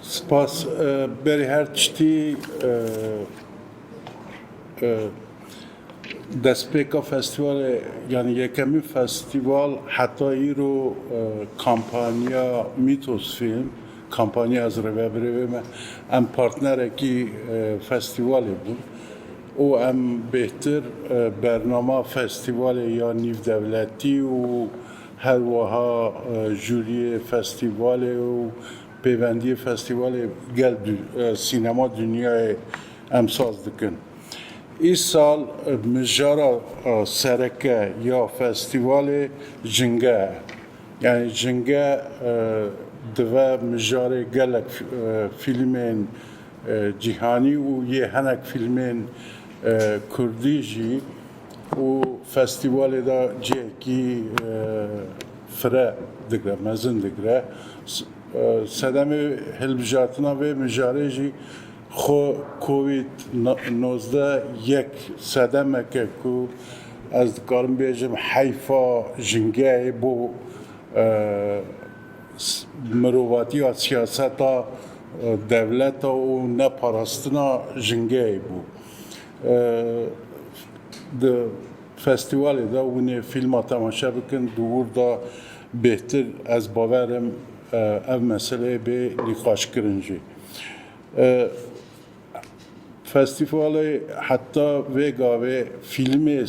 Spas. Berê her tiştî destpêka festîvalê yanî yekemîn festîval heta îro kampanya Mîtos Fîlm kampanya ez rê ve birê vê me em partnerekî festîvalê bûn û em bêhtir bernama festîvalê ya nîvdewletî û Her wiha jûriyê festîvalê û pêvendiyê festîvalê gel sînema dinyayê emsaz dikin. Îsal mijara sereke ya festîvalê jinge ye. Yanî jinge dive mijarê gelek fîlmên cîhanî û yê hinek fîlmên kurdî jî Û festîvalê de cihekî fire digre, mezin digre. Sedemê hilbijartina vê mijarê jî xwe covid nozdeh yek sedemeke ku ez dikarim bêjim heyfa jingeyê bo mirovatiya siyaseta dewleta û neparastina jingeyê bû. Di festîwalê de hûnê fîlma temaşe bikin, di wir de bêhtir ez bawer im ev meseleyê bê nîqaşkirin jî. Festîwalê heta vê gavê fîlmê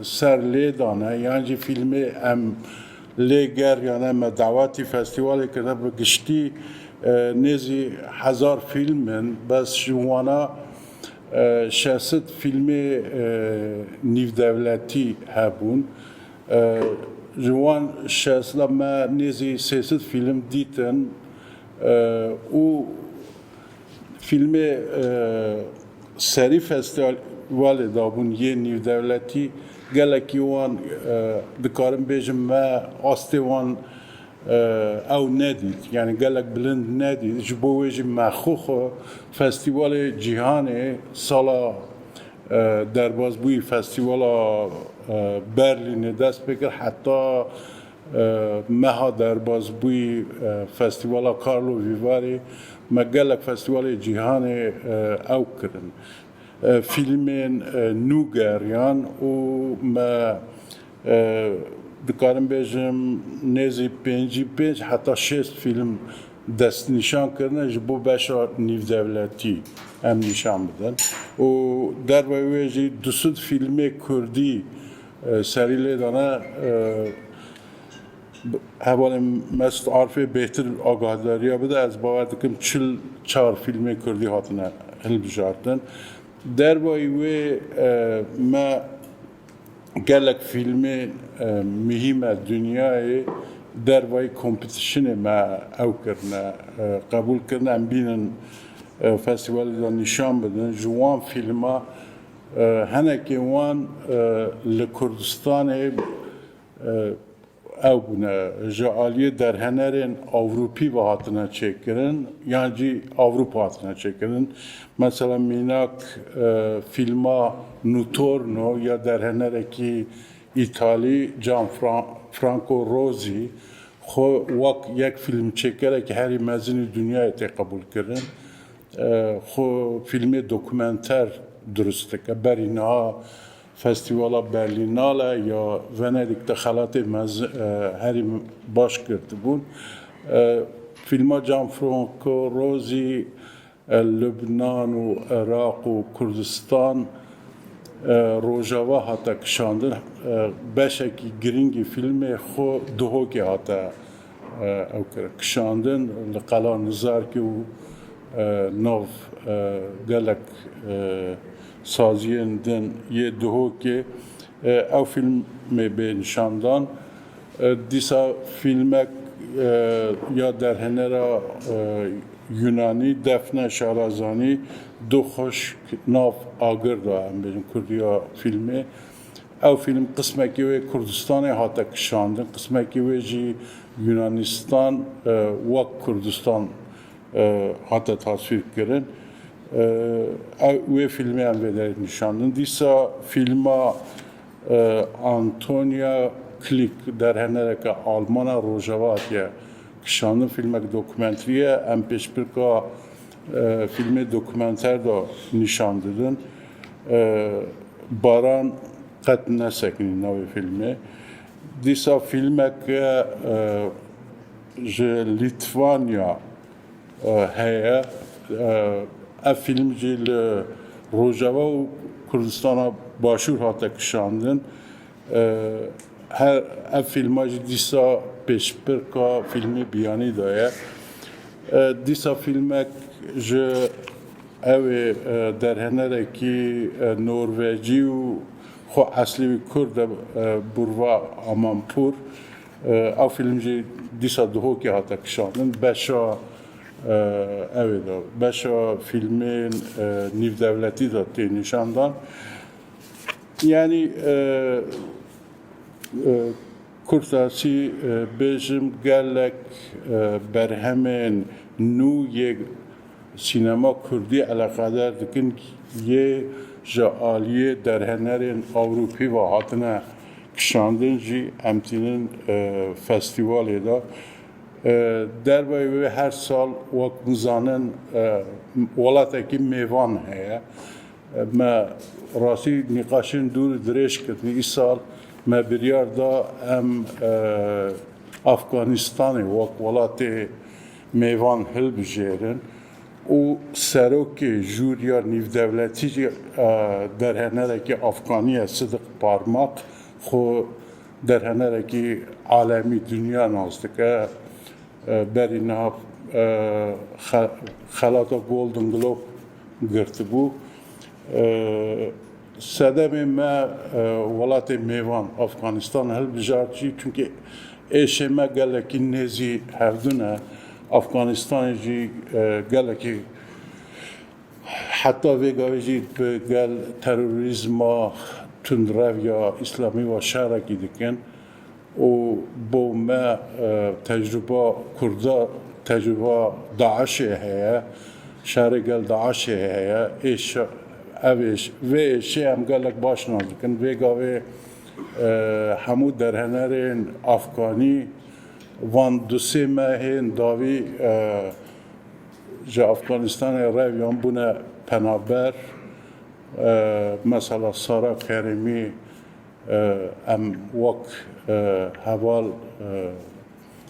ser lê dane yan jî fîlmê em Lê ger yane me dawetî festîwalê kiribe bi giştî nêzî hezar fîlm in bes ji wana şesit fîlmê nîvdewletî hebûn. Ji wan şesit de me nêzî sêsit fîlm dîtin û. Fîlmê serî festîvalê dabûn yê nîvdewletî gelekî wan dikarim bêjim me astê wan ew nedît yanî gelek bilind nedît ji bo wê jî me xwe xwe festîvalê cîhanê sala derbazbûyî festîvala Berlînê dest pê kir heta Meha derbas bûyî Festîvala Karlo Vîvarê me gelek festîvalê cîhanê ew kirin. Fîlmên nû geriyan û me dikarim bêjim nêzî pêncî pênc heta şêst fîlm destnîşan kirine ji bo beşa nîvdewletî em nîşan bidin û derveyî wê jî du sed fîlmê kurdî Serî lê dane hevalên Mesut Arfê bêhtir agahdariya bide. Ez bawer dikim çil çar fîlmên Kurdî hatine hilbijartin. Dervayî wê me gelek fîlmên muhîme dinyayê dervayî kompetîsyonê me ew kirine qebûl kirine em bînin festîvalê de nîşan bidin. Ji wan fîlma Hinekî wan li Kurdistanê ew bûne ji aliyê derhenerên Ewropî ve hatine çêkirin yan jî Ewropa hatine çêkirin. Mesela mînak fîlma Nutorno ya derhenerekî Îtalî Can Franco Rosi xwe wek yek fîlmçêkerekî herî mezinî dunyayê tê qebûlkirin. xwe fîlmê dokumenter dirust dike. Berî niha Festîvala Berlînale ya Venedîk de xelatê mezin herî baş girtibûn. Fîlma Gianfranco Rosi Lubnan û Iraq û Kurdistan Rojava hate kişandin. Beşekî girîngî fîlmê xwe Duhokê hate Ew kir kişandin li Qala Nizarkê û nav gelek saziyên din yê Duhokê. Ew fîlmê bê nîşandan. Dîsa fîlmek ya derhênera Yûnanî Defne Şarazanî Duh Xuşk nav agir da, em bêjin kurdiya fîlmê. Ew fîlm qismekî wê Kurdistanê hate kişandin, qismekî wê jî Yunanistan wek Kurdistan hate taswîrkirin. Wê fîlmê em vê derê nîşandin. Dîsa fîlma Antonia Klik derhenereke Almana Rojava hatiye kişandin. Fîlmek dokumenterî ye. Em pêşbirka fîlmê dokumenter de nîşan didin. Baran qet nesekinî navê fîlmê. Dîsa fîlmeke ji Lîtvanya heye. Ev fîlm jî li Rojava û Kurdistana Başûr hate kişandin. Her ev fîlma jî dîsa pêşbirka fîlmê Biyanî de ye. Dîsa fîlmek ji ew ê derhenerekî Norvecî û xwe eslî wî Kurd e Burva Amanpur. Ew fîlm jî dîsa Duhokê hate kişandin. Beşa ew ê de beşa fîlmên nîvdewletî de tê nîşandan. Yanî Kurtasî bêjim gelek berhemên nû yê sînema kurdî eleqedar dikin yê ji aliyê derhenerên Ewropî ve hatine kişandin jî em tînin festîwalê de. Derveyê wê her sal wek bizanin welatekî mêvan heye. Me rastî nîqaşên dûr dirêj kirin. Îsal me biryar da em Afganîstanê wek welatê mêvan hilbijêrin û Serokê Jûriya Nîvdewletî jî derhenerekî Afganî ye Sidik Parmak xwe derhenerekî alemî, dinya nas dike. Berî niha xelata Golden Globe girtibû. Sedemê me welatê mêvan Afganistan hilbijart jî çunkî êşê me gelekî nêzî hevdun e. Afganistanê jî gelekî heta vê gavê jî bi gel terorîzma tundrev ya îslamî wa şerekî dikin. û bo me tecrûba kurda tecrûba DAIŞ'ê heye, şerê gel DAIŞ'ê heye, ev ê vê êşê em gelek baş nas dikin, vê gavê hemû derhenerên afganî van du sê mehên dawî ji Afganistanê rev yan bûne penaber, mesela Sara Kerîmî, Em wek heval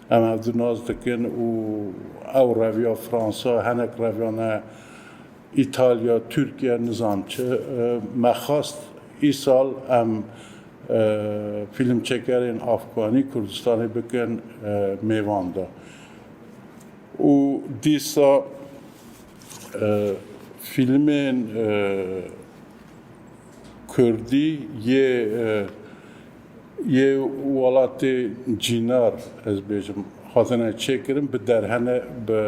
em hev di nas dikin û ew reviya Fransa, hinek reviyan e Îtalya, Tirkiye nizam çi. Me xwest îsal em fîlmçekerên Afganî Kurdistanê bikin mêvan de û dîsa fîlmên Kurdî yê yê welatê cînar ez bêjim hatine çêkirin bi derhene bi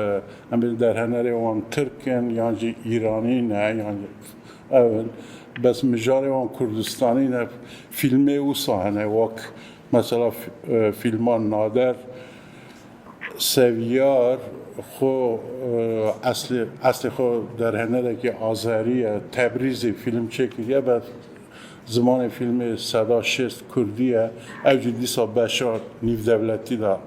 em bêjin derhenerê wan tirk in yan jî îranî ne yan ew in bes mijarê wan kurdistanî ne fîlmê wisa hene wek mesela fîlma nader Seviyar xwe eslê eslê xwe derhenerekî Azerî ye. Tebrîzê fîlm çêkiriye be zimanê fîlmê seda şêst kurdî ye. Ew jî dîsa beşa nîvdewletî de.